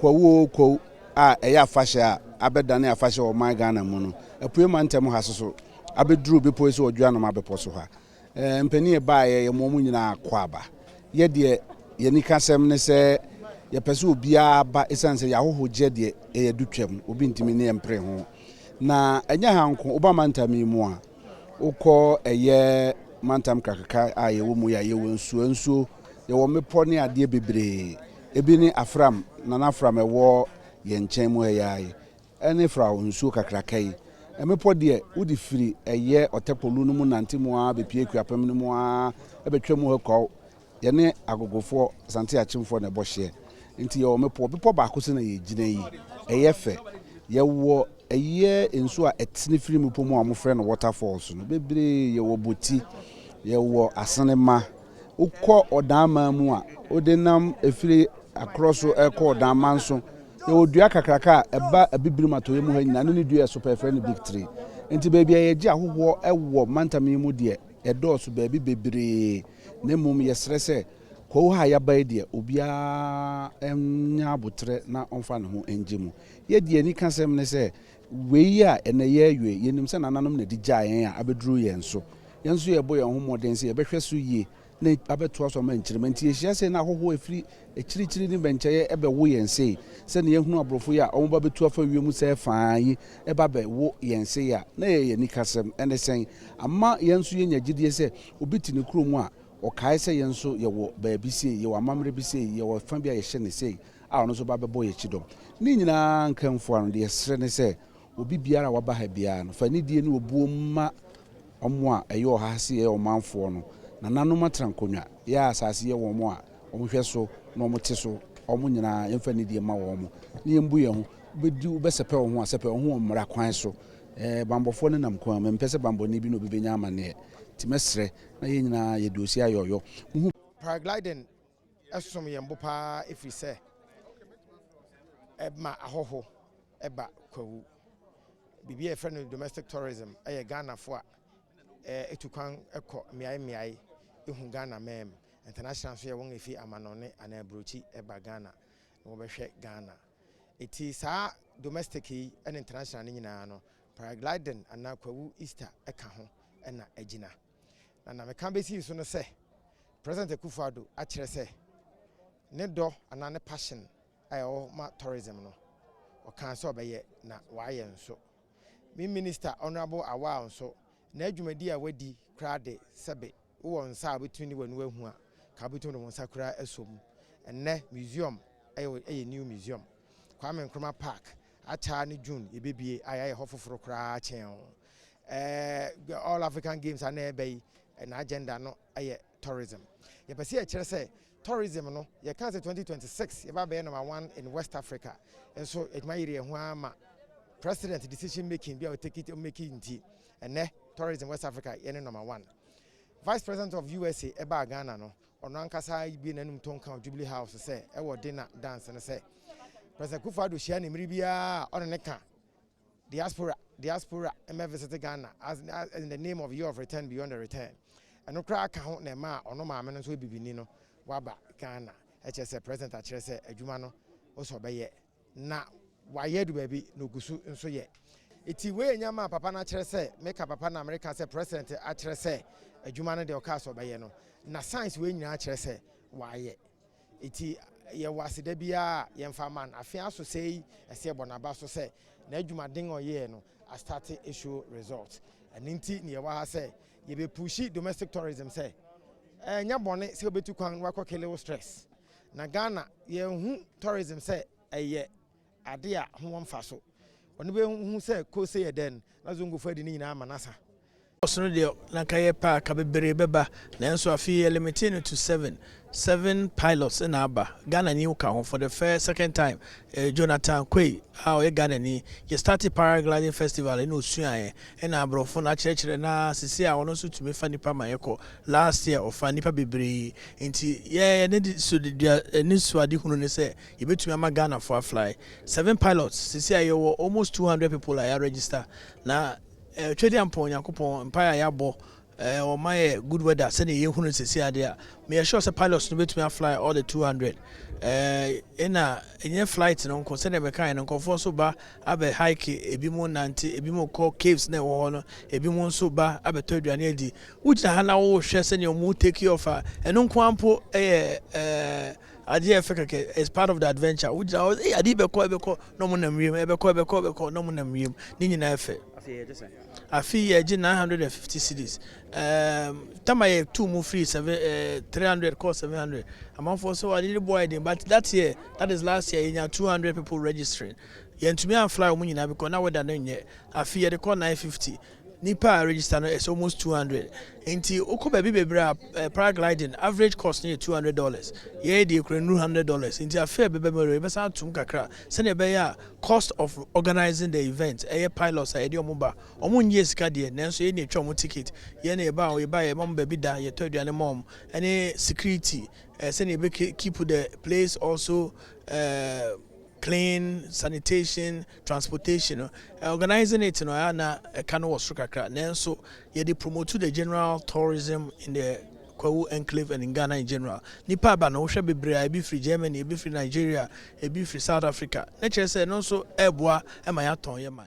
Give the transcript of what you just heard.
Kwawu oo kwawu a ɛyɛ afahyɛ a abɛdane afahyɛ wɔ ɔman Ghana mu no apue mantam ha soso abɛduru bepɔ yi so wɔ Dwoanoma bepɔ so ha. Mpanin a ɛbaeɛ yɛ moa mo nyinaa akwaaba. Yɛ deɛ yɛn anikasɛm ne sɛ yɛpɛ sɛ obiara ba ɛsiane sɛ yɛahoho gyeɛ deɛ ɛyɛ adu twam obi ntumi ne yɛn mpere ho. Na ɛnyɛ ha nko woba mantam yi mu a wokɔ ɛyɛ mantam kakaka a yɛwɔ mu yɛ a yɛwɔ nsuo nsuo yɛwɔ mmepɔ ne adeɛ bebree Ebi ne Afram, Nana Afram a ɛwɔ yɛn nkyɛn mu ha yi ara yi, ne Frao nsuo kakraka yi. Mmepɔ deɛ, wode firi ɛyɛ Ɔtɛkpo Lu no mu nante mu ara bɛpue Akuapem no mu ara bɛtwa mu ha kɔɔ. Yɛne Agogofoɔ, Asante Akyemfoɔ na ɛbɔ hyeɛ. Nti yɛwɔ mmepɔ, bepɔ baako so na yɛgyina yi. Ɛyɛ fɛ. Yɛwɔ ɛyɛ nsuo a ɛtene firi mmepɔ mu a wɔfrɛ no Waterfalls no bebree. Yɛwɔ Boti, yɛwɔ Asenema. Wokɔ ɔdaamaa mu a, wode nam firi akorɔ so kɔ ɔdaamaa nso. Yɛwɔ dua kakraka a ɛba Abibirim atɔeɛ mu ha nyinaa, ne ne dua ɛso pɛ, yɛfrɛ no big tree. Nti baabi a yɛgye ahohoɔ wɔ mantam yi mu deɛ, ɛdɔɔso baabi bebree. Na mmom yɛsrɛ sɛ, kuo ha a yɛaba yi deɛ, obiara nyɛ aboterɛ na ɔmfa ne ho ngye mu. Yɛn deɛ yɛn anikasɛm ne sɛ, Wei a ɛnnɛ yɛrewe yi, yɛnim sɛ nananom na ɛde gyaa yɛn a abɛduru yɛn so. Yɛn nso yɛrebɔ yɛn ho mmɔden sɛ yɛbɛhwɛ so yie na abɛtoa so ama nkyirimma. Enti yɛhyia sei na ahɔhoɔ a ɛfiri akyirikyiri ne mmɛnkyɛeɛ bɛwo yɛn sei. Sɛdeɛ yɛahunu aborɔfo yi a wɔba bɛtu afa wiem sɛɛ fã yi ba bɛwo yɛn sei a, na ɛyɛ yɛn anikasɛm. Ɛne sɛn? Ama yɛn nso yɛanya gyidie sɛ obi te ne kurom a, ɔkae sɛ yɛn nso yɛwɔ baabi sei, yɛwɔ amammerɛ bi sei, yɛwɔ fã bi a yɛhyɛ no sei, a ɔno nso ba bɛbɔ yɛn kyidɔm. Ne nyinaa nkamfo ara no, deɛ yɛsrɛ ne sɛ, obi biara a waba ha biara no, fa anidie ne obuo mma wɔn a ɛyɛ ɔha ha se yɛyɛ wɔn manfoɔ no. Nananom atra nkonnwa, yɛn asase yɛ wɔn a wɔn hwɛ so na wɔn te so, wɔn nyinaa yɛmfa anidie mma wɔn, na yɛmbu yɛn ho. Wobɛdi, wobɛsɛpɛ wo ho a, sɛpɛ wo ho wɔ mmara kwan so. Ɛɛ, banbɔfoɔ no nam kwan mu, mempɛ sɛ banbɔni bi ne obi bɛnya amanneɛ, nti mɛsrɛ na yɛn nyinaa yɛde osi ayɛ ɔyɔ. Mohu. Paragliding som yɛn bo paa ɛfiri sɛ ɛma ahɔho ba Kwawu. Biribi a yɛfrɛ no domestic tourism yɛ Ghanafoɔ a ɛtu kwan kɔ mmeae mmeae ɛhu Ghana mɛm. International nso yɛ wɔn a ɛfiri amanɔne anaa aburokyi ba Ghana na wɔbɛhwɛ Ghana. Ɛti saa domestic yi ne international no nyinaa no, paragliding anaa Kwawu Easter ka ho na agyina. Na na meka besi so no sɛ President Akufo Addo akyerɛ sɛ ne dɔ anaa ne passion a ɛwɔ hɔ ma tourism no, ɔkaa sɛ ɔbɛyɛ na wayɛ nso. Me Minister Honourable Awal nso, n'adwumadi a wadi koraa de, sɛbe wowɔ nsa a wobɛtumi ne w'ani ahu a, ka wobɛtumi de wo nsa koraa asɔ mu. Ɛnnɛ museum yɛ yɛ new museum, Kwame Nkrumah Park, ataa ne June yɛbɛbue a yɛayɛ hɔ foforo koraa kyɛn. ɛɛ all african games a na ɛreba yi na agenda no yɛ tourism yɛpɛ sɛ yɛkyerɛ sɛ tourism no yɛka sɛ 2026 yɛba bɛyɛ number one in west africa nso adwuma yere yɛn ho ara ma president decision making bi a ɔtake it make nti ɛnɛ tourism west africa yɛne number one vice president of usa ɛbaa ghana no ɔno ankasa bi n'anum to nka jubilee house sɛ ɛwɔ dena dance no sɛ president kufu ado hyia ne mmiri biara ɔne ne ka Diaspora Diaspora mmɛ visite Ghana as as in the name of year of return beyond the return ɛno koraa ka ho na ɛmaa ɔno maame no nso yɛ bibini no waba Ghana ɛkyerɛ sɛ president akyerɛ sɛ adwuma no ose ɔbɛyɛ na wayɛ adu baabi na oguso nso yɛ eti wei yɛ nneɛma a papa no akyerɛ sɛ meka papa na mereka sɛ president akyerɛ sɛ adwuma no deɛ ɔkaa sɛ ɔbɛyɛ no na signs wei nyinaa kyerɛ sɛ wayɛ. Enti yɛwɔ aseda biara a yɛmfa mma no. Afe aso sɛɛ yi, ɛsɛ yɛbɔ no aba so sɛ n'adwumaden a ɔyɛɛ no astate show results. Ɛno nti na yɛwɔ ha sɛ yɛbɛpushi domestic tourism sɛ ɛnyɛ bɔne sɛ wobɛtu kwan na woakɔ kele wo stress. Na Ghana, yɛahu tourism sɛ ɛyɛ. ade a ho wɔ mfaso. Ɔno behu sɛ kose yɛ dɛn, na Zongofo adi ne nyinaa ama no asa. Ɔsono deɛ na anka yɛpɛ a ka beberee bɛba nanso afei yɛ limitee no to seven, seven pilots na aba, Ghanani wo ka ho for the first, second time, eh, Jonathan Quay a ɔyɛ Ghanani, yɛ startee paragliding festival ɛna osuaeɛ ɛna abrɔfo na akyerɛkyerɛ na sesei a ɔno nso tumi fa nnipa ma yɛkɔ, last year ɔfaa nnipa beberee nti yɛ yɛn anisoadehunu ne sɛ, Yɛbɛtumi ama Ghanafoɔ a fly seven pilots sesei a yɛwɔ almost two hundred people a yɛ register na eh, Twɛdeɛ Ampɔn Nyankopɔn mpaeɛ a yɛabɔ eh, ɔma yɛ good weather sɛdeɛ yɛhunu no sesei adeɛ a meyɛ sure sɛ pilots no bɛtumi a fly all the two hundred eh, ɛna ɛnyɛ flight no nko sɛdeɛ mekaeɛ no nkurɔfoɔ nso ba abɛ hike ebi mu nante ebi mu kɔ caves na ɛwɔ hɔ no ebi mu nso ba abɛtɔ aduane adi wogyina ha na wohwɛ sɛdeɛ ɔmo take off a ɛno nko ara mpo ɛyɛ eh, Ade yɛ fɛ kɛkɛ, it's part of the adventure. Wo gyina hɔ, hey, ade yi bɛkɔ, ɛbɛkɔ, na ɔmo nam wiem, ɛbɛkɔ, ɛbɛkɔ, ɛbɛkɔ, na ɔmo nam wiem. Ne nyinaa yɛ fɛ. Afe yi yɛgye 950 cedis. Um, tama yɛ two mu free seven, uh, eh, 300 kɔ 700. Amanfoɔ so ade de boa yɛ den, but that year, that is last year, yɛnya 200 people registering. Yɛntumi anfly ɔmo nyinaa because na weather no nyɛ. Afe yɛde kɔ 950. Nnipa a register no is almost two hundred nti wokɔ baabi bebree a eh, paragliding average cost no yɛ two hundred dollars yɛyɛ deɛ kura nnuru hundred dollars nti afei a ɛbɛba mu awieɛ yɛbɛsan atom kakra sɛdeɛ ɛbɛyɛ a cost of organising the event ɛyɛ pilots a yɛde wɔn ba wɔn nnyee sika deɛ nanso yɛn na yɛtwa wɔn ticket yɛn na yɛba a yɛba yɛma wɔn baabi da yɛtɔ aduane ma wɔn ɛne security eh, sɛdeɛ yɛbɛ keep the place also eh, clean sanitation transportation no organising it no a na ɛka no wɔ soro kakra nanso yɛde promote the general tourism in the Kwawu enclave and in Ghana in general nipa aba no wohwɛ bebree a ebi firi Germany ebi firi Nigeria ebi firi South Africa na kyerɛ sɛ ɛno nso ɛreboa ma yɛatɔn yɛ man.